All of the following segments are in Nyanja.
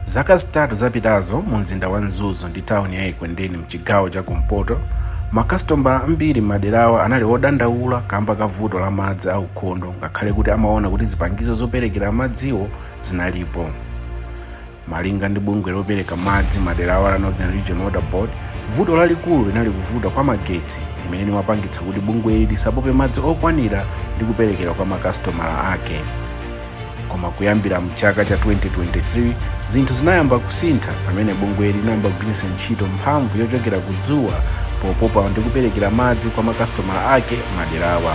zaka zitatu zapitazo mu mzinda wa mzuzu ndi tawuni ya ekwendeni mchigawo cha kumpoto makasitomala ambiri m'maderawa anali odandaula kamba ka vuto la madzi aukhondo ngakhale kuti amaona kuti zipangizo zoperekera madziwo zinalipo Malinga ndi bungwe lopereka madzi maderawa la Northern Region Water Board, vuto lalikulu linali kuvuta kwa magetsi limene limapangitsa kuti bungweli lisapope madzi okwanira ndi kuperekera kwa makasitomala ake. Koma kuyambira mchaka cha 2023, zinthu zinayamba kusintha pamene bungweli linayamba kugwiritsa ntchito mphamvu yochokera ku dzuwa popopa ndi kuperekera madzi kwa makasitomala ake maderawa.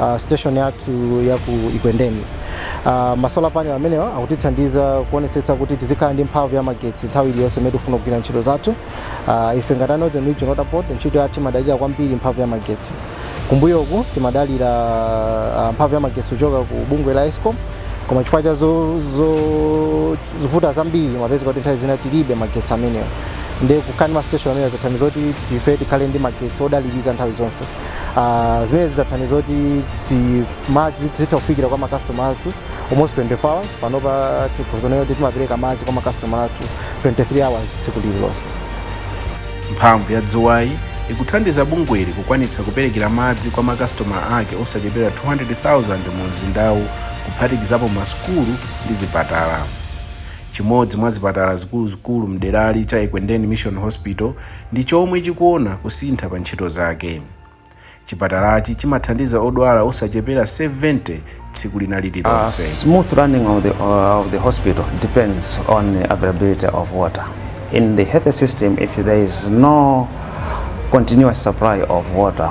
uh, station yathu ya ku Ekwendeni. Uh, masolar panel amenewa akutithandiza kuonetsetsa kuti tizikhala ndi mphamvu ya magetsi nthawi iliyonse imene tikufuna kugwira ntchito zathu. Uh, ife ngati a Northern Region Water Board ntchito yathu imadalira kwambiri mphamvu ya magetsi. Kumbuyoku timadalira uh, mphamvu ya magetsi kuchoka ku bungwe la Escom koma chifukwa cha zo- zo- zovuta zambiri mumapezeka kuti nthawi zina tilibe magetsi amenewa ndi kukhala ndi mastation amenewa zathandiza kuti ife tikhale ndi magetsi odalirika nthawi zonse Ah, zimene zidzathandiza kuti ti- madzi tizitha kufikira kwa makastoma athu almost 24 hours panopa tikhozonena kuti timapereka madzi kwa makastoma athu 23 hours tsiku lililonse mphamvu ya dzuwayi ikuthandiza bungweli kukwanitsa kuperekera madzi kwa makastoma ake osachepera 200,000 mu mzindawu kuphatikizapo masukulu ndi zipatala chimodzi mwa zipatala zikuluzikulu mderali cha ekwendeni mission hospital ndi chomwe chikuona kusintha pa ntchito zake. Chipatalachi chimathandiza odwala osachepera 70 tsiku lina lililonse. Smooth running of the, uh, of the hospital depends on the availability of water. In the health system, if there is no continuous supply of water,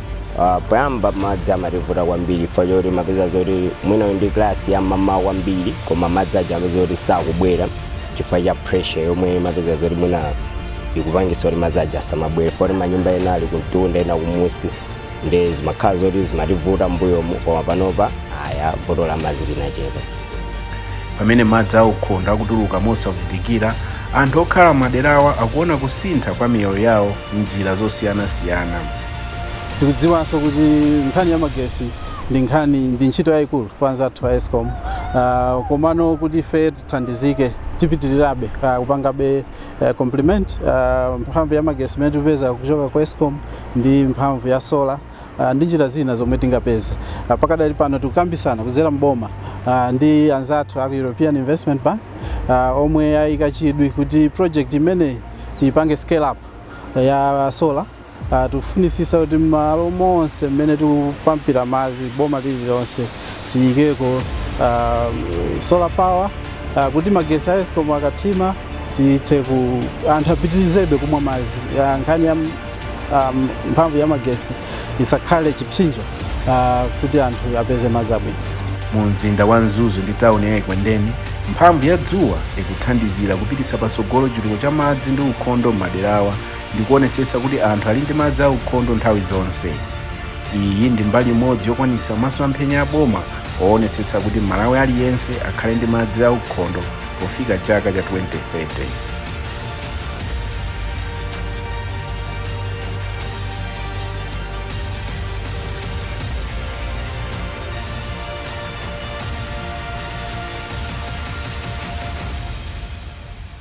Ah, poyamba madzi amativuta kwambiri chifukwa choti timapeza zoti mwina ndi klasi ya m'mawa kwambiri koma madzi aja amapeza kuti sakubwera chifukwa cha pressure yomwe mapeza zoti mwina ikupangisa kuti madzi aja asamabwere poti manyumba ena ali kumtunda ena kumusi ndi zimakhala zoti zimativuta mbuyomu koma panopa aya vuto la madzi linachepa pamene madzi aukhondo akutuluka mosavutikira anthu okhala maderawa akuona kusintha kwa miyoyo yawo m'njira zosiyanasiyana tikudziwanso kuti nkhani ya magesi ndi nkhani ndi ntchito yayikulu kwa anzathu a escom uh, komano kuti ife tithandizike tipitirirabe uh, kupangabe uh, compliment uh, mphamvu ya magesi imene tikupeza kuchoka ku escom ndi mphamvu ya solar uh, ndi njira zina zomwe tingapeze uh, pakadali pano tikukambisana kudzera mboma uh, ndi anzathu aku european investment bank uh, omwe ayika chidwi kuti project imeneyi tiipange scale up ya solar Uh, tikufunisisa kuti malo onse mmene tikupampira madzi boma lililonse tiyikeko uh, solar power uh, kuti magesi a escom akathima tithe ku anthu apitirizebe kumwa madzi uh, nkhani ya um, mphamvu ya magesi isakhale chipsinjo uh, kuti anthu apeze madzi abwino mu mzinda wa mzuzu ndi tawuni ya ekwendeni mphamvu ya dzuwa ikuthandizira kupititsa patsogolo chitukuko cha madzi ndi ukhondo m'maderawa ndi kuonetsetsa kuti anthu ali ndi madzi aukhondo nthawi zonse iyi ndi mbali imodzi yokwanitsa masomphenya a boma oonetsetsa kuti mmalawi aliyense akhale ndi madzi aukhondo pofika chaka cha 2030